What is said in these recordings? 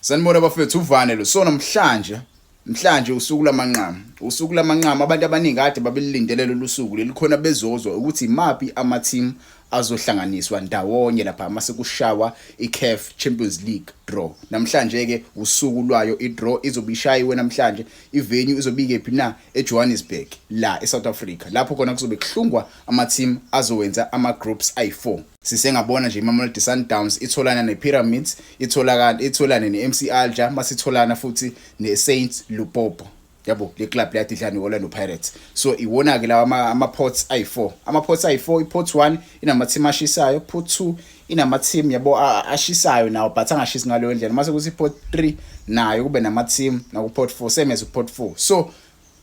Sanibona bafethu uvane lo sona mhlanje mhlanje usuku lamanqama usuku lamanqama abantu abaningi kade babelilindele lolu suku lelikhona bezozwa ukuthi imaphi ama-team azohlanganiswa ndawonye lapha mase kushawa i-CAF Champions League draw namhlanje ke usuku lwayo i-draw izobe ishayiwe namhlanje i-venue izobe ikephi na eJohannesburg la eSouth Africa lapho khona kuzobe kuhlungwa ama-team azowenza ama-groups ayi-4 Sisengabona nje iMamelodi Sundowns itholana nePyramids, itholakala itholane neMC Alger, masitholana futhi neSaints Lupopo. Yabo le club le yadidlana neOrlando Pirates. So iwona ke lawa ama pots ayi4. Ama pots ayi4, ipot 1 inama team ashisayo, pot 2 inama team yabo ashisayo nawo but angashisi ngaleyo ndlela. Mase kuthi pot 3 nayo kube nama team naku pot 4 same as pot 4. So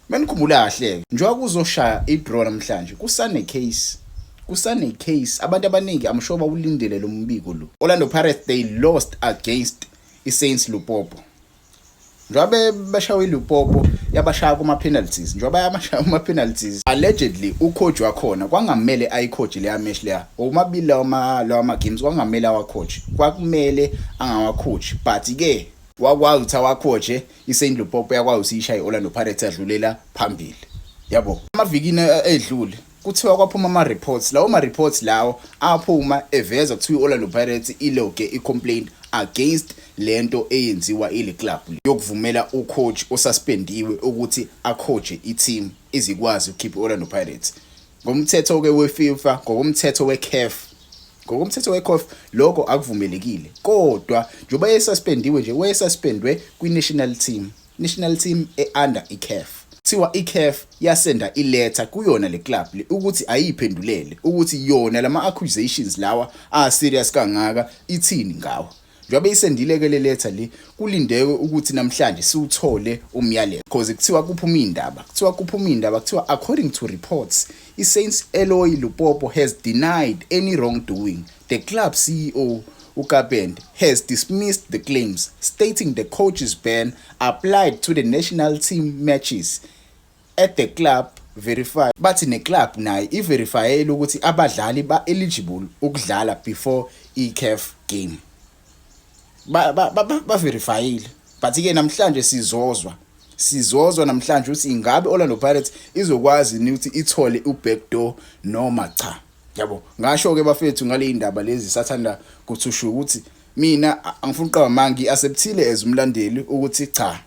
Manikhumbula kahle-ke njengoba kuzoshaya i-draw namhlanje kusane-case kusane-case abantu abaningi I'm sure bawulindele lo mbiko lo Orlando Pirates they lost against i-Saints Lupopo njengoba bashawa iLupopo yabashaya kuma-penalties njengoba yamashaya kuma-penalties allegedly ucoach wakhona kwangamele ayicoach leya match leya omabili lawa ma-games kwangamele awacoach kwakumele angawacoach but-ke wakwazi ukuthi awacoache iSaint Lupopo yakwayo siyishaye Orlando Pirates yadlulela phambili yabo amavikini eh, edlule kuthiwa kwaphuma ama reports lawo ma reports lawo aphuma eveza kuthiwa iOrlando Pirates iloge i complaint against lento eyenziwa ile club yokuvumela ucoach osuspendiwe ukuthi acoache iteam izikwazi ukukhipha iOrlando Pirates Ngomthetho-ke weFifa, ngokomthetho weCAF, ngokomthetho weCAF lokho akuvumelekile. Kodwa njengoba esuspendiwe nje, wayesuspendwe kwi-national team, national team e-under iCAF. Kuthiwa iCAF yasenda iletha kuyona le club le ukuthi ayiyiphendulele ukuthi yona lama accusations lawa a serious kangaka ithini ngawo. Njengoba isendileke le letha le kulindewe ukuthi namhlanje siwuthole umyalelo because kuthiwa kuphuma iy'ndaba kuthiwa kuphuma iy'ndaba kuthiwa according to reports i-Saints Eloy Lupopo has denied any wrongdoing the club CEO uKapend has dismissed the claims stating the coach's ban applied to the national team matches At the club verify bathi neclub nayo iverifyele ukuthi abadlali ba-eligible ukudlala before i-caf game baverifyile but-ke namhlanje sizozwa sizozwa namhlanje ukuthi ingabe Orlando Pirates izokwazi ni ukuthi ithole ubackdoor noma cha yabo ngasho ke bafethu ngale indaba lezi sathanda kuthusha ukuthi mina angifuni uqaba mangi acceptile as umlandeli ukuthi cha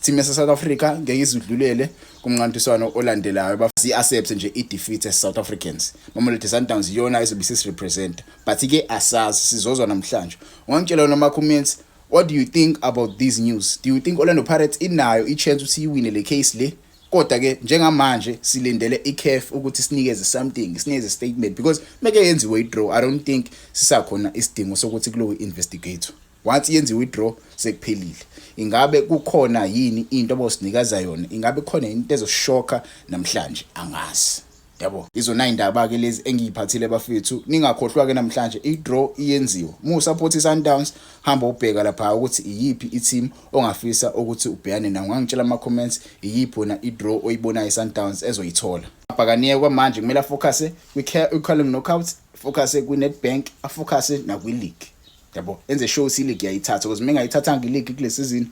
Team yase South Africa ngeke izidlulele kumnqantiswano olandelayo bafisi accept nje i defeat as South Africans. Mamelodi Sundowns iyona izobe sis represent but ke asazi sizozwa namhlanje. Ungangitshela noma comments what do you think about these news? Do you think Orlando Pirates inayo i chance ukuthi iwine le case le? kodwa ke njengamanje silindele iCAF ukuthi sinikeze something sinikeze statement because meke yenziwe idraw i don't think sisakhona isidingo sokuthi kulowe investigate Once yenziwe idraw sekuphelile. Ingabe kukhona yini into abosinikeza yona? Ingabe khona into ezoshoka namhlanje? Angazi. Yabo. Izona indaba ke lezi engiyiphathile bafethu. Ningakhohlwa ke namhlanje idraw iyenziwa. Mu support iSundowns hamba ubheka lapha ukuthi iyiphi iteam ongafisa ukuthi ubhekane nayo. Ngangitshela ama comments iyiphi wena idraw oyibonayo iSundowns ezoyithola. Abhakaniye kwamanje kumele afocuse kwi-Carling Knockout, focuse kwi-Nedbank, afocuse nakwi-league. yabo enze show si league yayithatha because mengayithathanga ileague kule season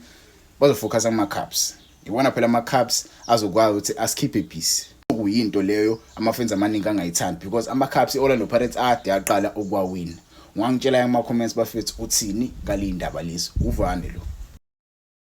bazofocusa kuma cups ibona phela ama cups azokwazi ukuthi asikhiphe peace kuyinto leyo amafans amaningi angayithandi because ama cups iOrlando Pirates ade yaqala ukwawina ngwangitshela ama comments bafethu uthini kalindaba lezi uvane lo